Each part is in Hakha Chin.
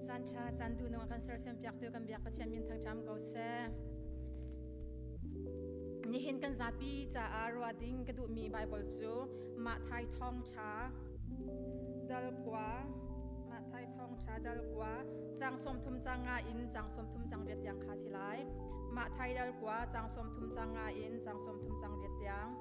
Caan ṭha caan tu nungah kan sersiam piak tu kan biak Pathian min thang ṭam ko seh. Nihin kan zapi caah ruah ding ka duhmi Bible cu mah thai thawng ṭha dalkua mah thai thawng ṭha dalkua cang sawm thum cang nga in cang sawm thum cang riat tiang kha si lai mah thai dalkua cang sawm thum cang nga in cang sawm thum cang riat tiang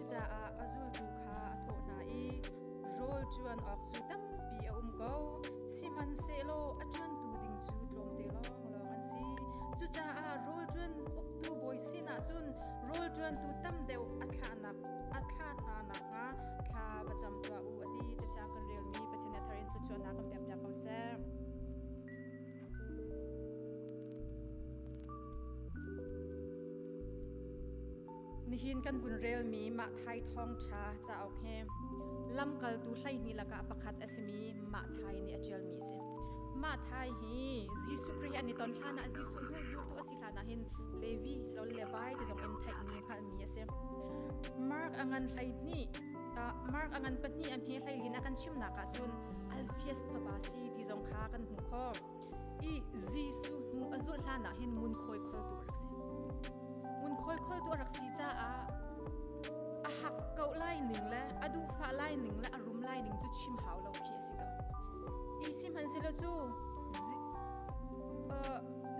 Cucaah a zultu kha a thawh hna i, Rawl ṭuan awk cu tampi a um ko, sihmanhsehlaw a ṭuantu ding cu tlawmte lawnglawng an si. Cucaah rawl ṭuan uktu bawi sinah cun rawl ṭuantu tam deuh a thlahnak a thlah hna nakhnga thla va cam tuah u, a ti. Cathiang kan relmi Pathian nih a thar in thluachuahnak kan pekpiak ko seh. Nihin kan vun relmi mah Thai thawngṭha cauk hi lamkaltu hleihnih lakah pakhat a simi mah Thai nih a ṭialmi a si. Mah Thai hi Jesuh Khrih an i ton hlanah Jesuh hnu zultu a si hlanah hin Levi siloin Levi ti zong in theihmi hngalhmi a si. Mark a ngan hleihnih Mark a ngan pahnih a hme hleilin a kan chimnak ahcun Alpheus fapa si ti zong kha kan hmuh khawh. i Jesuh hnu a zulh hlan ah hin ngunkhawi kholtu a rak si. Ngunkhawi kholtu a rak si caah a hak ko lai ning le a duhfah lai ning le a rum lai ning cu chim hau lo khi a si ko. Hi sihmanhsehlaw cu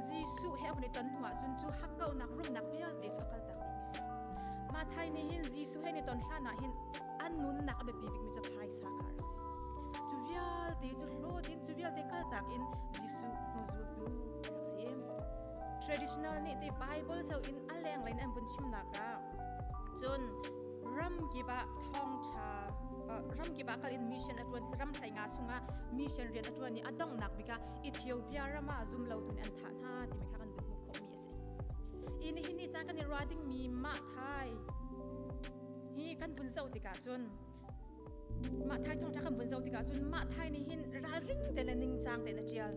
Jesuh he a vun i ton hnu ahcun cu hakkauhnak rumnak vialte cu a kaltak dingmi a si. Mathai nih hin Jesuh he ni ton hlan ah hin an nunnak a biapi bikmi cu phaisa sa kha a si. Cu vialte cu hlawt in cu vialte kaltak in Jesuh hnuzultu a rak si. Traditional nih ti Bible sau in a lenglen an vun chimnak ah cun ramkip ah thawngtha ramkip ah kal in mission a tuan ramhlai nga chungah mission rian a tuan i a donghnak bik ah Ethiopia ram ah zum lo tu nih an thah hna timi kha kan vun hmuh khawhmi a si. Ih nihin ni caan kan i ruah dingmi mah thai hi kan vun zoh tikah cun mah thai thawngṭha kan vun zoh tikah cun mah thai nih hin ralring te le ningcang te na ṭial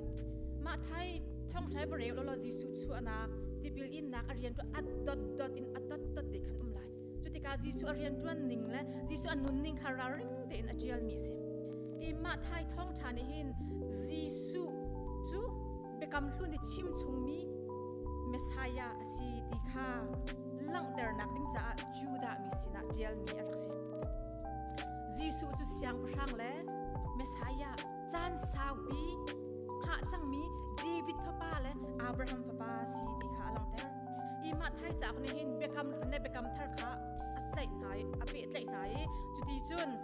mah thai thawngṭha i bareu lo lo Jesuh chuahnak tipil innak a rian ṭuan a dot dot in a dot dot te khan um lai cu tikah Jesuh a rian ṭuan ning le Jesuh a nunning kha ralring tein a ṭialmi a si i mah thai thawngṭha nih hin Jesuh cu biakam hlun i chimchungmi Messiah a si ti kha langhternak ding caah Judah mi sinah ṭialmi a rak si. Jesuh cu Siangpahrang le Messiah caan saupi hngah cangmi David fapa le Abraham fapa si ti kha a langhter. I Mathai cauk nih hin biakam hlun le biakam thar kha a tlaih hna i a pehtlaih hna i cuti cun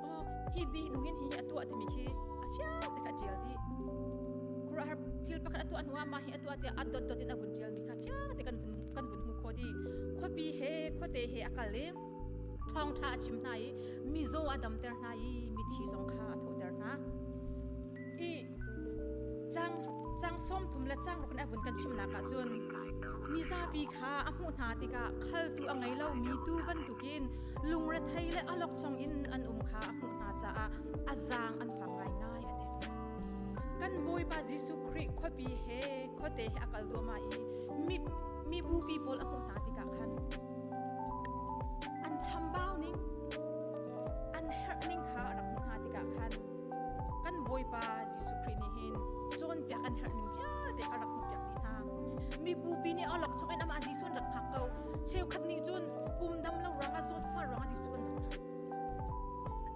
Maw hi dihnung in hi a tuah timi khi a fiang te kha ṭial dih. Khuruahhar thil pakhat a tuah hnu ah mah hi a tuah tiah a dotdot in a vun ṭial mi kha fiang te kan vun kan vun hmu kho dih. Khuapi he khuate he a kal i thawngṭha a chim hna i mizaw a damter hna i mithi zong kha a thawhter hna. I Cang sawm thum le cang ruk in a vun kan chimnak ah cun mizapi kha a hmuh hna tikah khaltu a ngei lomi tuu bantukin lungrethei le alokchong in an um kha a hmuh hna caah a zaang an fak ngaingai a ti. Kan Bawipa Jesuh Khrih khuapi he khuate he a kal duahmah i mi bupi pawl a hmuh hna tikah khan an chambau ning an herh ning kha rak hmuh hna tikah khan kan Bawipa Jesuh Khrih nih hin cawnpiak kan herh ning vialte a rak hmuhpiak dih hna. Mi bupi nih olok chungin amah Jesuh an rak hngak ko. Cheukhat nih cun pum dam lo ruangah sawt fual ruangah Jesuh an rak hngak.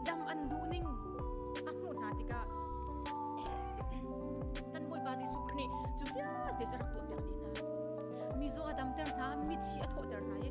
Dam an duh ning a hmuh hna tikah kan Bawipa Jesuh Khrih nih cu vialte cu a rak tuahpiak dih hna. Mi zaw a damter hna, mithi a thawhter hna i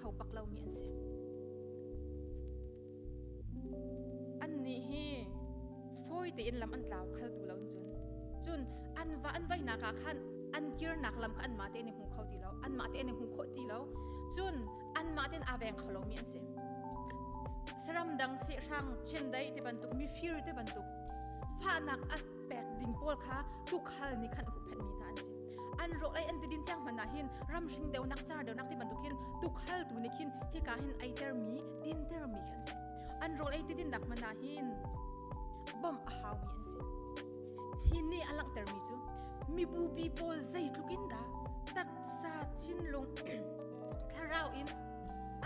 kho bak lomi an si. An nih hi fawi tein lam an tlau khaltu lo cun cun an va an vaihnak ah khan an kirnak lam kha an mah te ne hmu kho ti lo an mah te ne hmu kho ti lo cun an mah ten aveng kholomi an si saram dang se hrang chendai te bantuk mi fir te bantuk fanak a pek ding pawl kha kukhal ni khan a huphet mi ta an si an ro ai an ti din tiang hman ah hin ram hring deu nak char deu nak ti bantuk hin tukhal tu ni khin hika hin ai ter mi din ter mi kan si an ro ai ti din nak mana hin bom a hau mi an si hi ne alang ter mi chu mi bu bi pawl zei tlukin da taksa chin lung thlarau in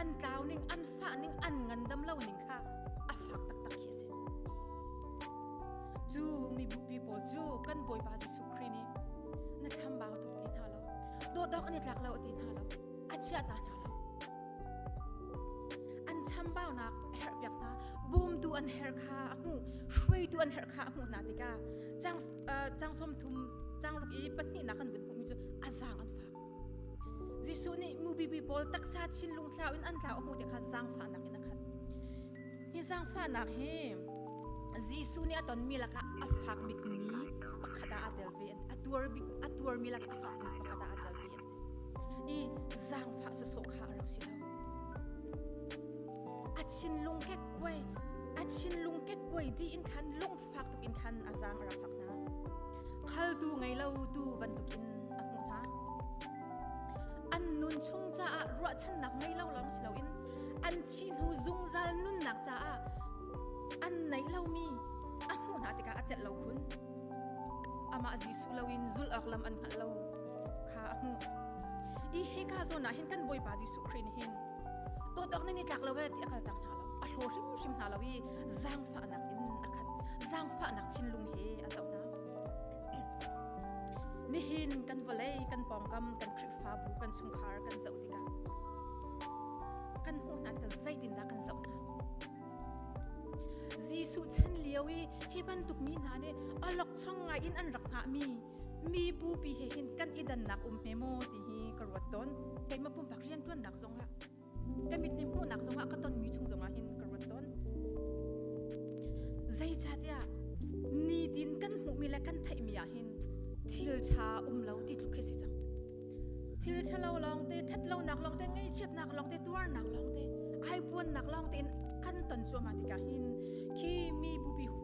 an tlau ning an fa ning an ngan dam lo ning kha a fak tak tak hi si chu mi bu pi pawl chu kan boipa chu Kri nih na chambau tuk ti hna lo dawhdawk an i tlak lo ti hna lo a chia ta hna lo an chambaunak a herh piak hna bumtu an her kha a hmu hruaitu an herh kha a hmuh hna tikah chang chang som thum changruk i pahnihnak an vun hmuhmi cu a zaang an fak Jesuh nih mubibi pawl taksa chinlung thlau in an tlau a hmuh ti kha zaangfahnak in a khat Hi zaangfahnak hi Jesuh nih a tonmi lakah a fak bikmi pakhat ah aa tel ve an ti. A tuar bik a tuarmi lakah a fakmi pakhat ah aa tel ve an ti. I zaangfah sawsawh kha a rak si lo. A thinlung kekkuai a thinlung kekkuai dih in khan lung fak tukin khan a zaang a rak hlak hna. Khaltu ngei lo tu bantukin a hmuh hna. An nun chung caah ruahchannak ngei lo lawng si loin an thi hnu zungzal nunnak caah an neih lomi a hmuh hna tikah a celh lo khun. Amah Jesuh loin zul awk lam an hngalh lo kha a hmuh. I hika zawn ah hin kan Bawipa Jesuh Khrih nih hin tawtawk ni ni tlak lo e ti a kal cang hna lo a hlo hrimhrim hna lo i zangfahnak in a khat zangfahnak thinlung he a zoh hna nihin kan vawlei kan pawngkam kan khrihfabu kan chungkhar kan zoh tikah kan hmuh hna ka zeitindah kan zoh hna Jesuh chan lio i hi bantuk mi hna nih a lokchong ngai in an rak hngah mi mi bupi he hin kan i dannak um hme maw ti hi ka ruat tawn keimah pumpak riantuannak zongah ka mit ni hmuhnak zongah ka tonmi chung zongah hin ka ruat tawn zeicahtiah nitin kan hmuhmi le kan theihmi ah hin thil ṭha um lo ti tluk khi si cang thil ṭhalo lawngte ṭhatlonak lawngte ngaihchiatnak lawngte tuarnak lawngte ai puannak lawngte in kan ton cuahmah tikah hin khi mi bupi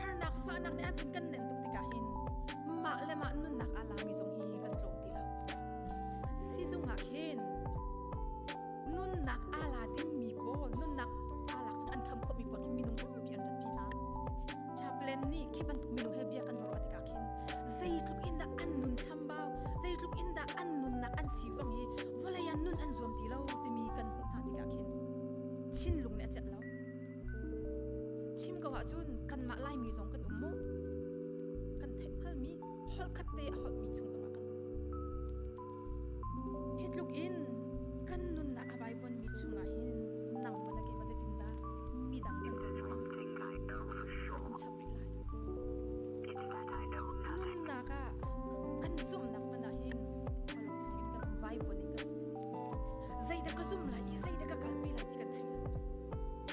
Harnak fahnak nih a vun kan nenh tuk tikah hin mah le mah nunnak aa lami zong hi kan tlawm ti lo. Sizung ah khin nunnak aa la dingmi pawl nunnak aa lak cun an kham khawhmi pawl khin minung tampi an rat pi hna. Chaplain nih khi bantuk minung he bia kan ruah rua tikah khin zeitluk in dah an nun chambau, zeitluk in dah an nunnak an sifang hi vawlei ah nun an zuam ti lo timi kan hmuh hna tikah khin thinlung nih a celh lo. Chim ko ahcun kanmah Laimi zong kan um maw? Kan theih hngalmi holkhat te a holhmi chung zongah kan um. Hi tluk in kan nunnak a vaivonmi chungah hin nangmah na keimah zeitindah midang kan kan kan chap rih lai. Nunnak ah kan zumnak hmanh ah hin holh chungin kan um vaivon in kan um. Zeidah ka zum lai i zeidah ka kalpi lai ti kan thei lo.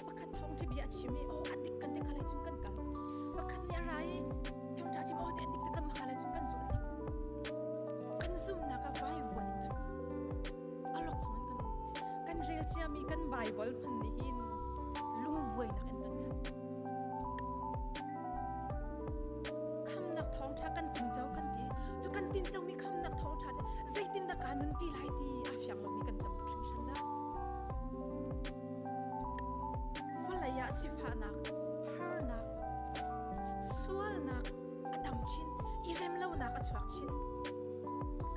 Pakhat thawng cu bia a chim i aw a dik kan te khalei cun kan kal. Pakhat nih a ra i thawng ṭha a chim aw te a dik te kan makalei cun kan zulh tik kan zumhnak ah vaivuan in kan um. A lok chung in kan um. Kan rel ciami kan Baibal hman nih hin lungbuainak in kan khat. Khamnak thawng ṭha kan tinco kan ti. Cu kan tincomi khamnak thawng ṭha te zeitindah kaa nunpi lai ti a fiang lomi kan tam tuk hringhran dah. Vawlei ah sifahnak, harnak, sualnak a tang chin i remlonak a chuak chin.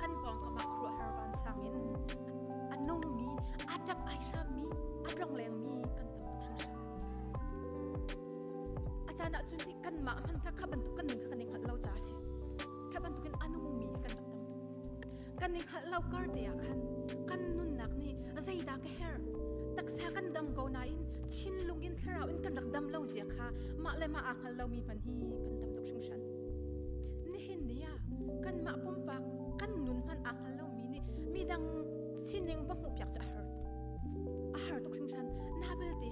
An pawngkam ah khuaruahhar vansang in a nungmi, a ṭap ai hrammi, a tlonglengmi kan tam tuk hringhran. A caan ahcun nih kanmah hman kha kha bantuk kan nun kha kan i hngalh lo caah a si. Kha bantukin a nungmi kan rak tam tuk. kan i hngalh lo kar te ah khan kan nunnak nih zeidah ka herh taksa kan dam ko nain thinlung in thlarau in kan rak dam lo zia kha mah le mah aa hngal lomi hman hi kan dam tuk hringhran nihin ni ah kan mah pumpak kan nun hman aa hngal lomi nih midang sining va hmuh piak cu a har a har tuk hringhran na belte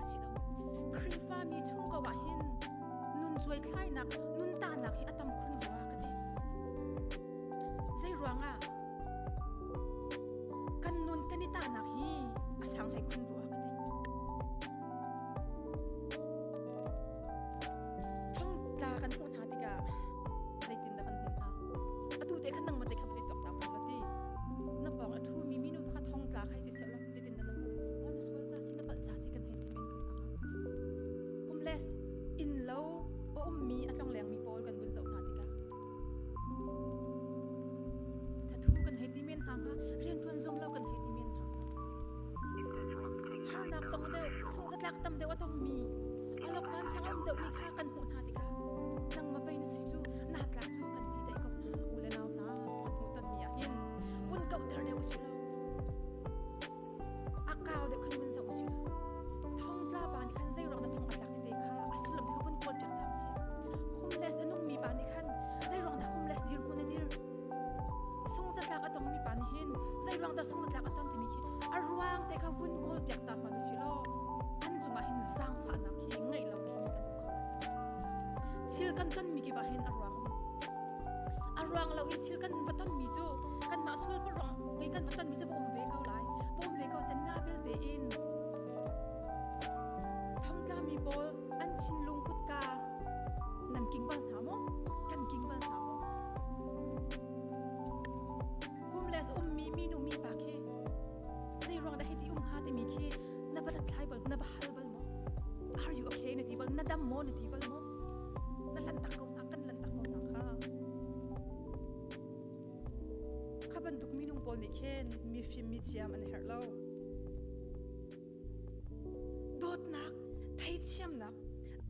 a si lo. Khrihfami chungkau ah hin nun cuaithlainak, nun tahnak hi a tam khun rua ka ti. Zeiruangah? Kan nun kan i tahnak hi a sang hlei khun rua ka ti. Thongtla kan hmuh hna tikah zeitin dah kan hmuh hna? Atu te khan nang mah te khan pei tok na pong la ti. Na pong a thumi minu pakhat thongtla khai si seh lo. Cutin na na hmuh maw na sual ca si na palh ca si kan hei ti men ko hna. Kum les innlo a ummi a tlonglengmi pawl kan vun zoh hna tikah thathu kan hei ti men hna hnga rianṭuan zum lo kan hei ti men hna hnga harnak tong deuh sunghzatlak tam deuh a tongmi alokman chang a um deuhmi kha kan hmuh hna tikah nangma pei na si cu natla cu kan ti daih ko hna u le nau hna hmuh tonmi ahhin pun kauh der deuh a si lo A kau deuh khan vun zoh usih. Thongtla pa nih khan zeirok na thong a tlak tete kha a sullam te kha vun kuat piak ta usih. Humles a nungmi pa nih khan zeirok dah humles dirhmun na dir? Sungzatlak a tongmi pa nih hin zeirok dah sungzatlak a ton timi khi a ruang te kha vun kawl piak ta hman usih law an cungah hin zaangfahnak hi ngeih lo khi kan um kho lai. Thil kan tonmi kipah hin a ruang um. A ruang lo in thil kan va tonmi cu kanmah sualparawng i kan va tonmi cu va um ve ko lai va um ve ko sen nga vialte in thongtlami pawl an chinlung kutka nan king bal hna maw kan king bal hna maw homeless ummi minu mi pa khi zei ruang dah hiti um ha timi khi na va hlatthlai bal na va hal bal maw are you okay na ti bal na dam maw na ti bal maw na hlan tak ko hna kan hlan tak maw hna kha Kha bantuk minung pawl nih khin mifim mithiam an herh lo. Dawtnak, theithiamnak,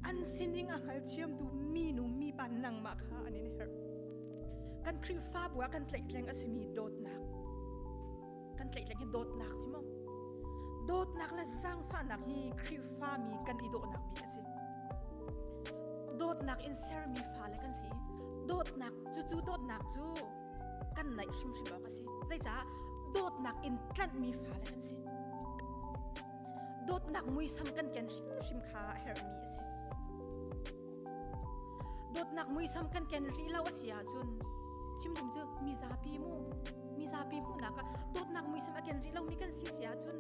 an sining a hngalthiamtu minu mipa nangmah kha an in herh. Kan Khrihfabu ah kan tlaihtleng a simi dawtnak. kan tlaihtleng hi dawtnak si maw dawtnak le zaangfahnak hi khrihfami kan i dawhnak bik a si dawtnak in sermi fale kan si dawtnak cucu dawtnak cu kan naih hrimhrim awk a si zeicah dawtnak in tlanhmi fale kan si dawtnak muisam kan ken hrimhrim kha a herhmi a si Dawtnak muisam kan ken rih lo a si ahcun chimdum cu mizapi mu mizapi hmuhnak ah dawtnak muisam a ken rih lomi kan si si ahcun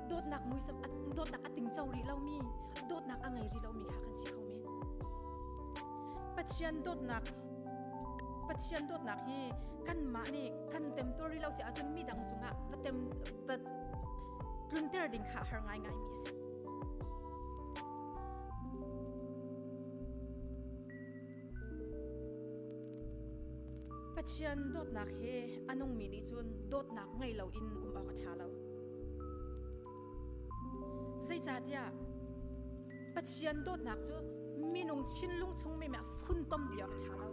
dawtnak muisam dawtnak a tingco rih lomi dawtnak a ngei rih lomi kha kan si kho men Pathian dawtnak Pathian dawtnak hi kanmah nih kan temto rih lo si ahcun mi dang cungah va tem va tlunter ding kha har ngaingaimi a si Pathian dawtnak he a nungmi nih cun dawtnak ngei loin um awk a ṭha lo. Zeicahtiah Pathian dawtnak cu minung thinlung chung me a funtom dih awk a ṭha lo.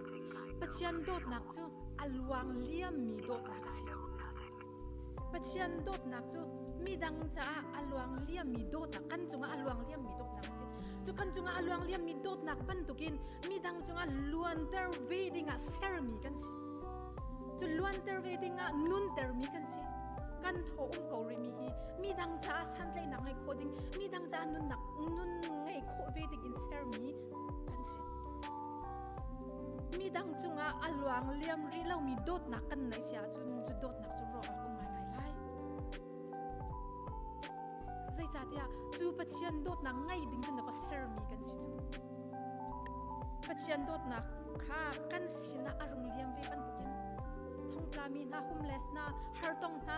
Pathian dawtnak cu a luang liammi dawtnak a si. Pathian dawtnak cu midang caah a luang liammi dawt ah kan cungah a luang liammi dawtnak a si. Cu kan cungah a luang liammi dawtnak bantukin midang cungah luanter ve dingah sermi kan si. Cu luanter ve dingah nuntermi kan si. Kan thaw um ko rihmi hi midang caah santlaihnak ngei khawh ding, midang caah nunnak nun ngei khawh ve dingin sermi an si. Midang cungah a luang liam rih lomi dawtnak kan neih si ahcun cu dawtnak cu ruah awk um ngaingai lai. Zeicahtiah cu Pathian dawtnak ngaih ding cu nak sermi kan si cu. Pathian dawtnak kha kan sinah a rung liam ve bantukin thongtlami hna humles hna hartong hna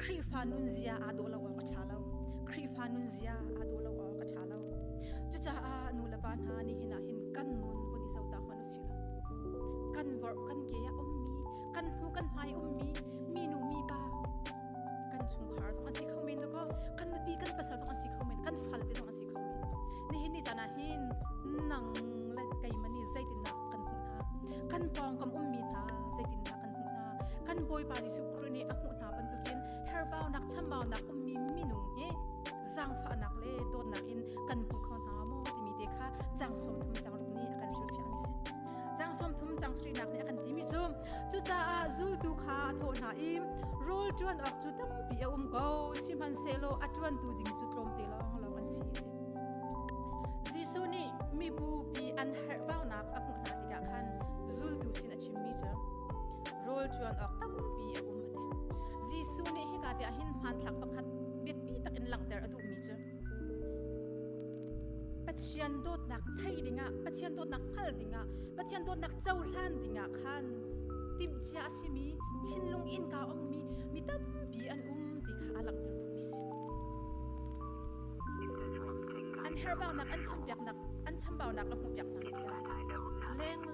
Khrihfa nunzia aa daw lo awk a ṭha lo. Khrihfa nunzia aa daw lo awk a ṭha lo. Cucaah nu le pa hna nihin ah hin kan nun vun i zoh ta hmanh u sih law kan vorh kan ke ah ummi kan hnu kan hmai ummi minu mipa kan chungkhar zong an si kho men kaw kan nupi kan pasal zong an si kho men kan falte zong an si kho men nihin ni caan ah hin nang le keimani zeitindah kan hmuh hna kan pawngkam ummi hna zeitindah kan hmuh hna kan bawipa jesuh children i a hmuh hna bantukin herhbaunak chambaunak ummi minung hi zaangfahnak le dawtnak in kan hmu kho hna maw timi te kha cang sawmthum cangruk nih a kan hrilhfiahmi si cang sawmthum cang srinak nih a kan timi cu cucaah zultu kha a thawh hna i rawl ṭuan awk cu tampi a um ko sihmanhsehlaw a ṭuantu ding cu tlawmte lawng lawng an si te Jesuh nih mibupi an herhbaunak a hmuh hna tikah khan zultu sin a chimmi cu rawlṭuan awk tampi a um a ti. Jesuh nih hika ti ahhin hmanthlak pakhat biapi tak in langhter a duhmi cu Pathian dawtnak thei dingah, Pathian dawtnak hngal dingah, Pathian dawtnak cohlan dingah khan timhcia a simi, thinlung innka ongmi mi tampi an um ti kha a langhter duhmi si. An herhbaunak, an chambaunak, an chambaunak a hmuhpiak hna tikah leng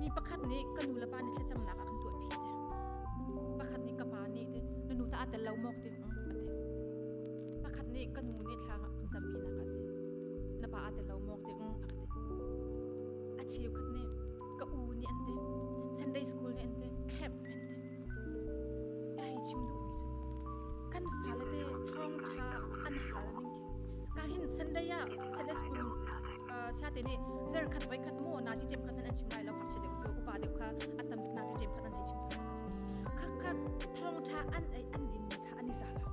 Mi pakhat nih ka nu le pa nih thlacamnak ah kan tuahpi te. Pakhat nih ka pa nih te na nu ta aa tel lo maw ti mm, a ti. Pakhat nih ka nu nih thla kan campi nak a ti. Na pa aa tel lo maw ti mm, a ka ti. A cheukhat nih ka u nih an ti. Sunday school nih an ti. Camp an ti. Ya hei chim duh mi cu. Kan fale te thawng tha an hal ning Kahin Sunday ah Sunday school siate nih zarkhat voikhat mu na si ṭem khat nan an chim lai lo hu deuh cu upa deuh kha a tam tuk na si ṭem khat an an chim khat a si khakhat thawngṭha an an din mi kha an i za lo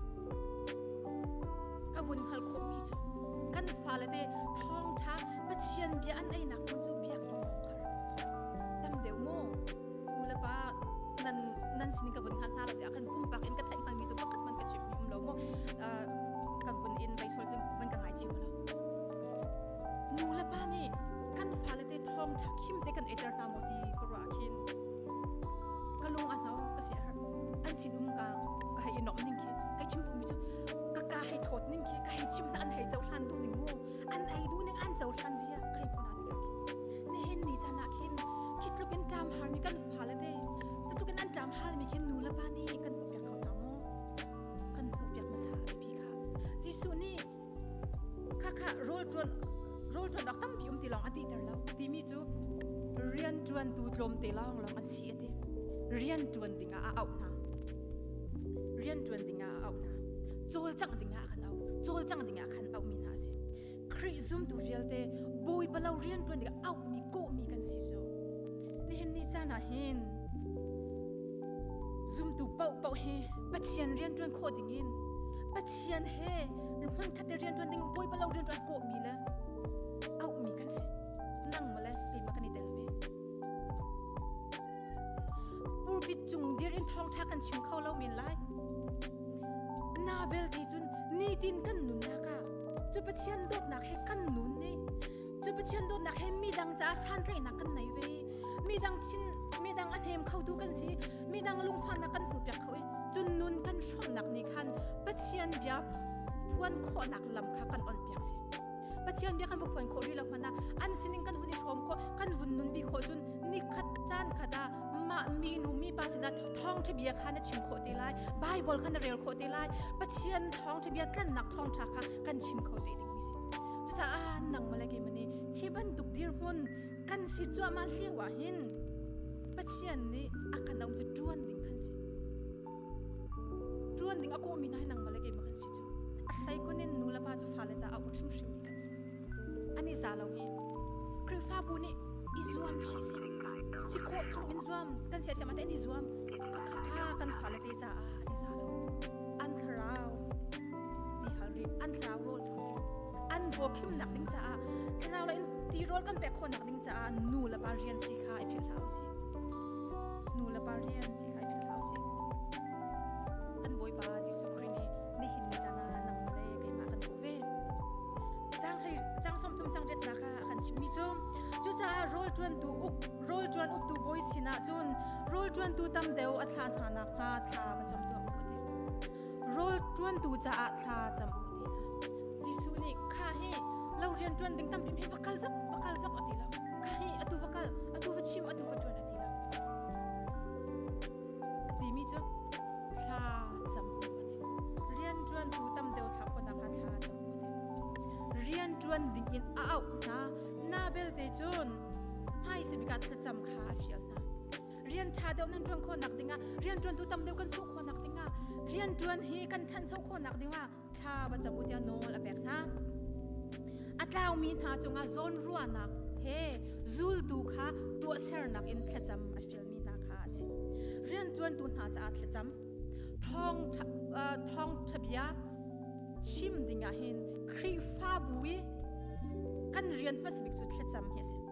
ka vun hal khawh mi cu kan fale te thawngṭha Pathian bia an einak hmun cu biakinn kong kha rak si tam deuh mu nulepa nan nan sin ka vun hna hna lo tiah khan pumpak in ka theih hngalmi cu pakhat man ka chimh um lo mu ka vun in leisual jing man ka ngai chim lo nulepa nih kan fale te thawng tha khim te kan eter hna mo ti ka ruah khin ka lung a hno ka si har an sin um ka ka hei inom ning khi kai chim tu mi cu ka ka hei thawt ning khi ka hei chim na an hei zo hlan du ning mu an ei duh ning an cohlan zia kai khona te khi ne hen ni chan ah khin khi tluk in ṭam har mi kan fale te cu tluk in an ṭam hal mi khin nu le pa nih kan hmuh piak kho ta maw kan hmuh piak hmasa pi kha Jesuh nih kha kha rol ṭuan rol ṭuan awk tampi um ti lawng a ti ter lo timi cu rian ṭuan tu tlawm te lawng lawng an si a ti rian ṭuan ding ah a auh hna rian ṭuan ding ah a auh hna cawlcangh ding ah a kan auh cawlcang ding ah khan auhmi hna a si Khrih zumtu vialte Bawipa lo rian ṭuan ding auhmi kawhmi kan si cu nihin ni caan ah hin zumtu paohpaoh hi Pathian rian ṭuan khawh ding in Pathian he hmun khat i rian ṭuan ding Bawipa lo rian ṭuan kawhmi le auhmi kan si nang male keimah kan i tel ve Pulpit cung dir in thawngṭha kan chim kho lo men lai. Na belte cun nitin kan nunnak ah cu Pathian dawtnak he kan nun ne. Cu Pathian dawtnak he midang caah santlaihnak kan nei ve. Midang thin midang a hnem kho tu kan si. Midang lungfahnak kan hmuhpiak kho i cun nun kan hrawmnak nih khan Pathian bia phuan khawhnak lam kha kan onpiak si. Pathian bia kan va phuan khawh rih lo hmanh ah an sining kan hun i hrawm khawh kan vun nunpi khawh cun ni khat caan khat ah mah minu mipa sinah thawngṭha bia kha na chim khawh te lai Baibal kha na rel khawh te lai Pathian thawngṭha bia tlannak thawngṭha kha kan chim kho te ding mi si cucaah nangmah le keimani hi bantuk dirhmun kan si cuahmah lio ah hin Pathian nih a kan um cu ṭuan ding kan si ṭuan ding a kawhmi na nangmah le keimah kan si cu A hleikhun in nulepa cu fale caah u hrimhrimmi kan si. An i za lo i Khrihfabu nih i zuam chih si. Si khawh chung in zuam kan sia siama tein i zuam khakha kha kan fale te caah an i za lo. An thlarau ti hal rih, an thlarau rawl ṭhawl rih, an ruakhimnak ding caah thlarau le in ti rawl kan pek khawhnak ding caah nu le pa rian si kha i philh hlah u sih. Nu le pa rian si kha i philh hlah u sih. An Bawipa Jesuh Khrih nih nihin ni caan ah nangmah le keimah kan hmuh ve. Cang hlei cang sawmthum cang riatnak ah a kan chimmi cu cucaah rawlṭuantu uk rawlṭuan uktu bawi sinah cun rawlṭuantu tam deuh a thlah hna nakhnga thla ka cam tuah u ti. Rawlṭuantu caah thla cam u ti le Jesuh nih kha hi lo rian ṭuan ding tampi hi va kal zok va kal zok a ti lo. Kha hi atu va kal atu va chim atu va ṭuan a ti lo. timi cu thla cam awk a thim. Rianṭuantu tam deuh thlah pawn ah kha thla cam awk a thim. Rianṭuan dingin a auh hna. Na belte cun hmaisabik ah thlacam kha a fial hna. Rian ṭha deuh nan ṭuan khawhnak dingah, rianṭuantu tam deuh kan chuah khawhnak dingah, rianṭuan hi kan ṭhancho khawhnak dingah thla va cabu tia nawl a pek hna a tlaumi hna cungah zawnruahnak he zultu kha tuahsernak in thlacam a fialmi hna kha a si rianṭuantu hna caah thlacam thawng ṭha thawng ṭha bia chim dingah hin Khrihfabu i kan rian hmasa bik cu thlacam hi a si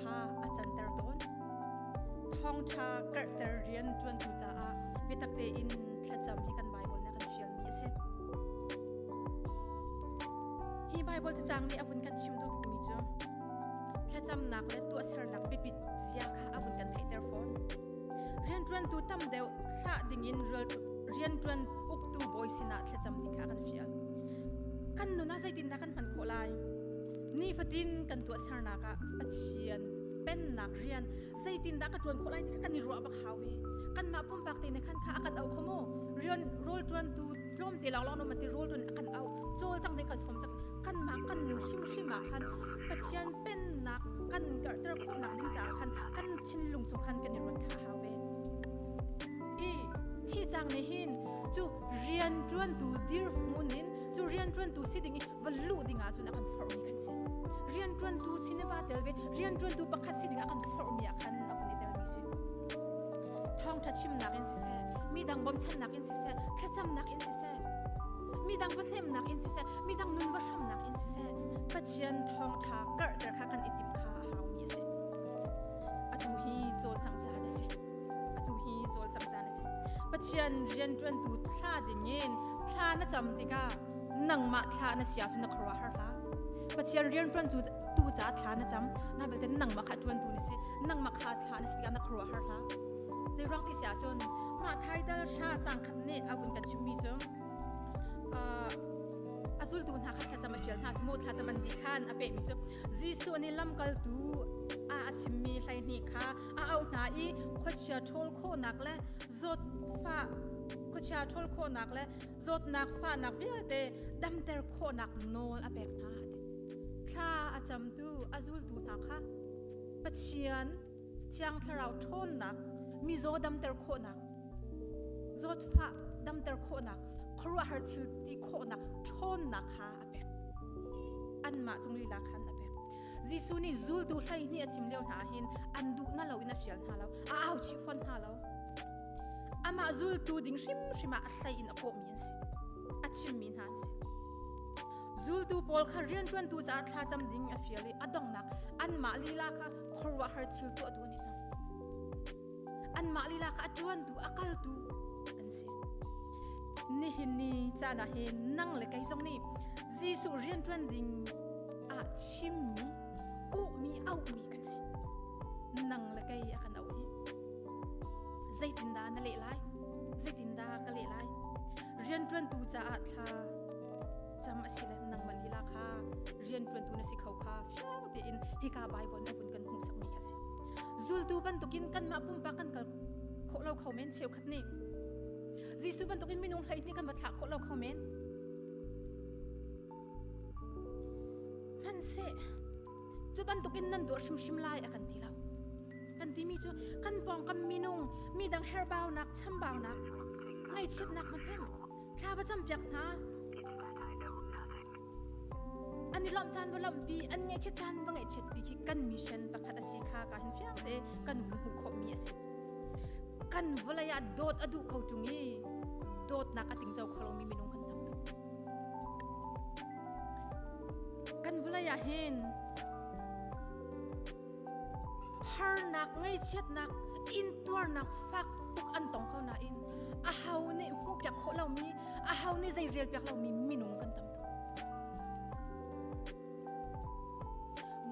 kha a canter tawn. Thawngṭha karhter rianṭuantu caah biatak tein thlacam hi kan Baibal nih a kan fialmi a si. Hi Baibal cacang nih a vun kan chim duh bikmi cu thlacamnak le tuahsernak biapit zia kha a vun kan theihter fawn. Rianṭuantu tam deuh thlah dingin rianṭuan uktu bawi sinah thlacam ding kha a kan fial. Kan nun ah zeitindah kan hman khawh lai? nifatin kan tuahsernak ah Pathian pennak rian zeitindah ka ṭuan khawh lai ti kha kan i ruah bak hau i kanmah pumpak te nih khan kha a kan auh kho maw rian rawl ṭuantu tlawmte lawnglawng nu ti rawl ṭuan a kan auh cawlcang nih kan sawm cang kanmah kan nun hrimhrim ah khan Pathian pennak kan karhter khawhnak ding caah khan kan thinlung cung khan kan i ruat kha hau ve i hi cang nih hin cu rian ṭuantu dirhmun in cu rian ṭuantu si ding i van luh ding ahcun a kan forhmi kan si rianṭuantu si ne va tel ve rianṭuantu pakhat si ding a kan forhmi ah khan a vun i telmi si thawngṭha chimnak in siseh midang bawmchannak in siseh thlacamnak in siseh midang va hnemnak in siseh midang nun va hramnak in siseh pathian thawngṭha karhter kha kan i tim kha a haumi a si atu hi cawlcang caan a si atu hi cawlcang caan a si pathian rianṭuantu thla dingin thla na cam tikah nangmah thla na sia su na kharwa har hla pathian rian tuan cu tu ca thla na cham na belte nangmah kha tuan tu na si nangmah kha thla na si tikah na kharwa har hla zei rang ti sia cun mah thai dal sha chang khat nih avun kan chimmi cu azultu hna kha thlacam a fial hna cu mo thlacam an di khan a pehmi cu Jesuh nih lamkaltu a a chimmi hleihnih kha a auh hna i khuachia ṭhawl khawhnak le zawt fa khuachia ṭhawl khawhnak le zawtnak fahnak vialte damter khawhnak nawl a pek hna thla a camtu a zultu hna kha pathian thiang thlarau ṭhawnnak mizaw damter khawhnak zawtfah damter khawhnak khuaruahhar thil ti khawhnak ṭhawnnak kha a pek anmah cung lila khan a pek Jesuh nih zultu hleihnih a thim lio hna ahhin an duhna lo in a fial hna lo a au chih fawn hna lo amah zultu ding hrimhrim ah hlei in a kawhmi an si a chimmi hna an si zultu pawl kha rianṭuantu caah thlacam ding a fial i a donghnak anmah lila kha khuaruahhar thil tuahtu an i hnang anmah lila kha a ṭuantu a kaltu an si. Nihin ni caan ah hin nang le kei zong nih Jesuh rianṭuan ding ah chimmi, kuhmi, auhmi kan si. Nang le kei a kan auh hi. Zeitindah na leh lai? Zeitindah ka leh lai? Rianṭuantu caah thla cam a si le nangmah lila kha rianṭuantu na si kho kha fiang tein hika Baibal na vun kan hmuhsakmi kha a si. zultu bantukin kanmah pumpak kan kal khawh lo kho men cheukhat nih Jesuh bantukin minung hleihnih kan va thlah khawh lo kho men han se cu bantukin nan duah hrimhrim lai a kan ti lo kan timi cu kan pawngkam minung midang herbaunak chambaunak ngaichiatnak hmahnem thla va cam piak hna An i lawmh caan va lamhpi, an ngaichiat caan va ngaihchiatpi khi kan mission pakhat a si kha ka hin fiang te kan va hmuh khawhmi a si. Kan vawlei ah dawt a duh kho ṭung i dawtnak a tingzo kho lomi minung kan tam tuk. Kan vawlei ah hin harnak ngeichiatnak intuarnak fak tuk an tong ko nain a ho nih hmuhpiak khawh lomi a ho nih zei relpiak lomi minung kan tam tuk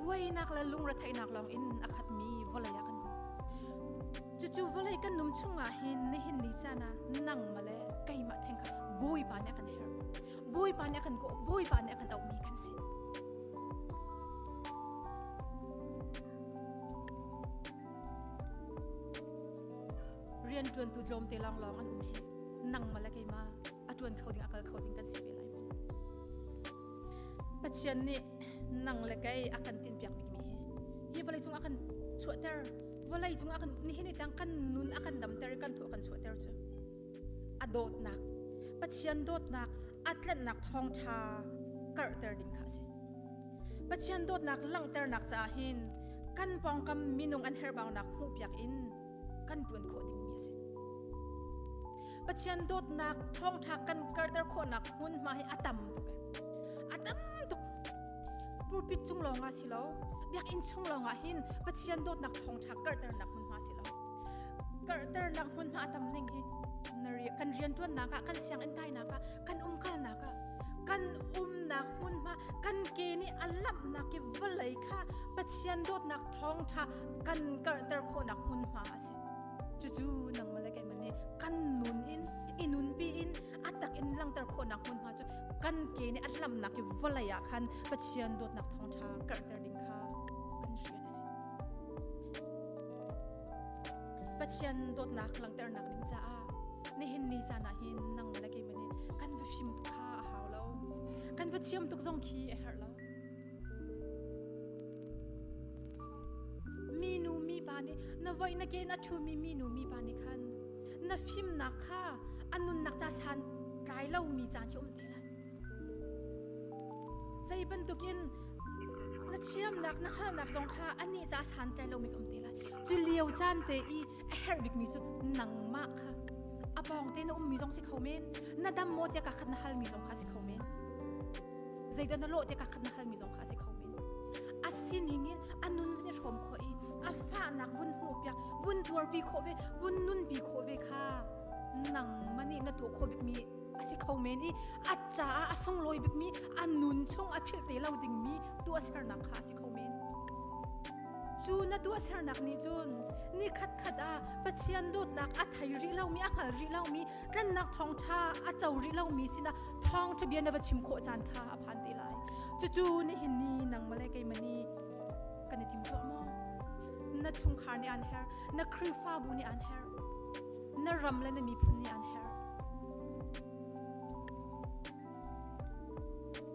buainak le lungretheihnak lawng in a khatmi vawlei ah kan um cucu vawlei kan num chungah hin nihin ni cana nang male keimah theng kha bawipa nih a kan herh Bawipa nih a kan kawh, Bawipa nih a kan auhmi kan si. Rian ṭuantu tlawmte lawnglawng an um hi nangmah le keimah a ṭuan kho ding a kal kho ding kan si ve lai maw? Pathian nih nang le kei a kan tinpiak bikmi hi hi vawleicung a kan chuahter vawlei cung a kan nihin ni tang kan nun a kan damter i kan thaw a kan chuahter cu a dawtnak pathian dawtnak a tlanhnak thawngṭha karhter ding kha a si pathian dawtnak langhternak caah hin kan pawngkam minung an herhbaunak hmuhpiak in kan ṭuan khawh dingmi a si pathian dawtnak thawngṭha kan karhter khawhnak hmunhma hi a tam tuk a tam tuk pulpit cung lawngah si lo biakinn chung lawngah hin pathian dawtnak thawngṭha karhternak hmunhma si lo karhternak hmunhma a tam ning hi kan rianṭuannak ah kan sianginn kainak ah kan umkalnak ah kan umnak hmunhma kan ke nih a lamhnak i vawlei kha pathian dawtnak thawngṭha kan karhter khawhnak hmunhma a si cucu nangmah le keimah nih kan nun in i nunpi in a tak in langhter khawhnak hmunhma cu kan ke nih a lamhnak i vawlei ah khan pathian dawtnak thawngṭha karhter ding kha Pathian dawtnak langhternak ding caah nihin ni zan ah hin nang le kei mani kan va fim tuk kha a hau lo kan va thiam tuk zong khi a herh lo minu mi pa nih na voi na ke na thu mi minu mi pa nih khan na fimnak kha anunnak ca san tlai lo mi caan hi um te lai Zei bantukin na thiamnak na hngalhnak zong kha anih ca san te lomi ka um te lai. Cu lio caan te i a herh bikmi cu nangmah kha a pawng te na ummi zong si kho men. Na dam maw tiah kakhat na halmi zong kha si kho men. Zeidah na lawh tiah kakhat na halmi zong kha si kho men. A sining in a nun kan i hrawm khawh i a fahnak vun hmuhpiak, vun tuarpi khawh ve, vun nunpi khawh ve kha nangmah nih na tuah khawh bikmi a si kho men i a caah a sunglawi bikmi a nun chung a philh te lo dingmi tuahsernak kha a si kho men cu na tuahsernak nih cun ni khatkhat ah pathian dawtnak a thei rih lomi a hngal rih lomi tlannak thawngṭha a co rih lomi sinah thawngṭha bia na va chim khawh caan kha a phan te lai cucu nihin ni nangmah le keimani kan i tim tuah maw na chungkhar nih aan her na khrihfabu nih aan her Na ram le na miphun nih an herh.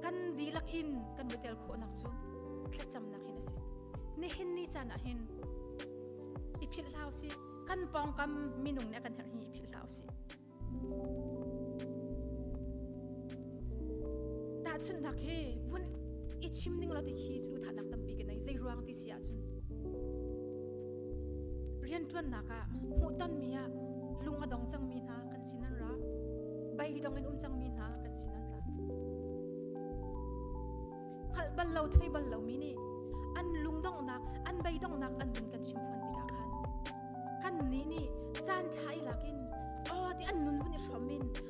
Kan dihlak in kan va tel khawhnak cu thlacamnak hin a si. Nihin ni caan ah hin i philh hlau si kan pawngkam minung nih kan herh hi i philh hlau si. Tahchunhnak hi vun i chim ning lo ti khi cu thatnak tampi ka nei zei ruang ti si ahcun rianṭuannak ah hmuhtonmi ah lung a dong cangmi hna kan sin an ra bei dong in um cangmi hna kan sin an ra hngalh bal lo thei bal lomi nih an lungdonghnak an beidongnak an vun kan chimphuan tikah khan kan nih nih caan ṭha i lakin aw ti an nun vun i hrawm in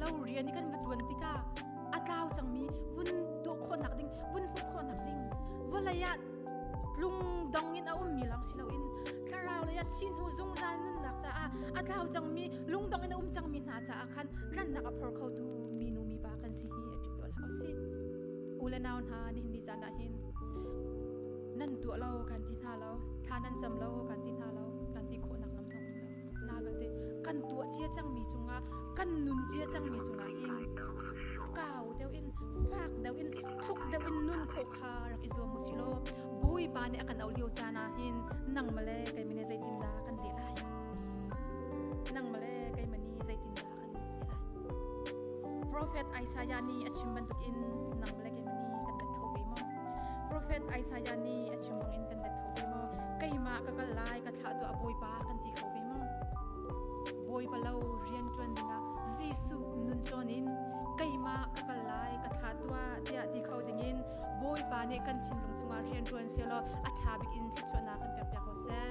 Lo rian i kan va ṭuan tikah a tlau cangmi vun tuah khawhnak ding, vun hmuh khawhnak ding, vawlei ah tlung dong in a ummi lawng si loin thlarau lei ah thihnu zungzal nunnak caah a tlau cangmi lungdong in a um cangmi hna caah khan tlanhnak a phor khotu minu mipa kan si hi a ṭiol hau si. U le nau hna nihin ni caan ah hin nan tuah lo kan ti hna lo, thla nan cam lo kan ti hna lo, kan ti khawhnak lam zong um lo. Naan ate kan tuah cia cangmi cungah kan nun cia cangmi cungah hin kau deuh in fak deuh in thuk deuh in nun khawh kha rak i zuam usilaw Bawipa nih a kan auh lio caan ah hin nang male kei mane zeitindah kan leh lai nang male kei mani zeitindah Profet Isaiah nih a chim bantukin nang le keimah nih kan let kho ve maw? Profet Isaiah nih a chim bangin kan let kho ve maw? Keimah ka kal lai ka thlah tuah Bawipa kan ti kho ve maw? Bawipa lo rian ṭuan dingah Jesuh nun cawn in keimah ka kal lai ka thlah tuah tiah ti kho dingin Bawipa nih kan thinlung chungah rian ṭuan silaw a ṭha bikin thluachuahnak kan pekpiak ko seh.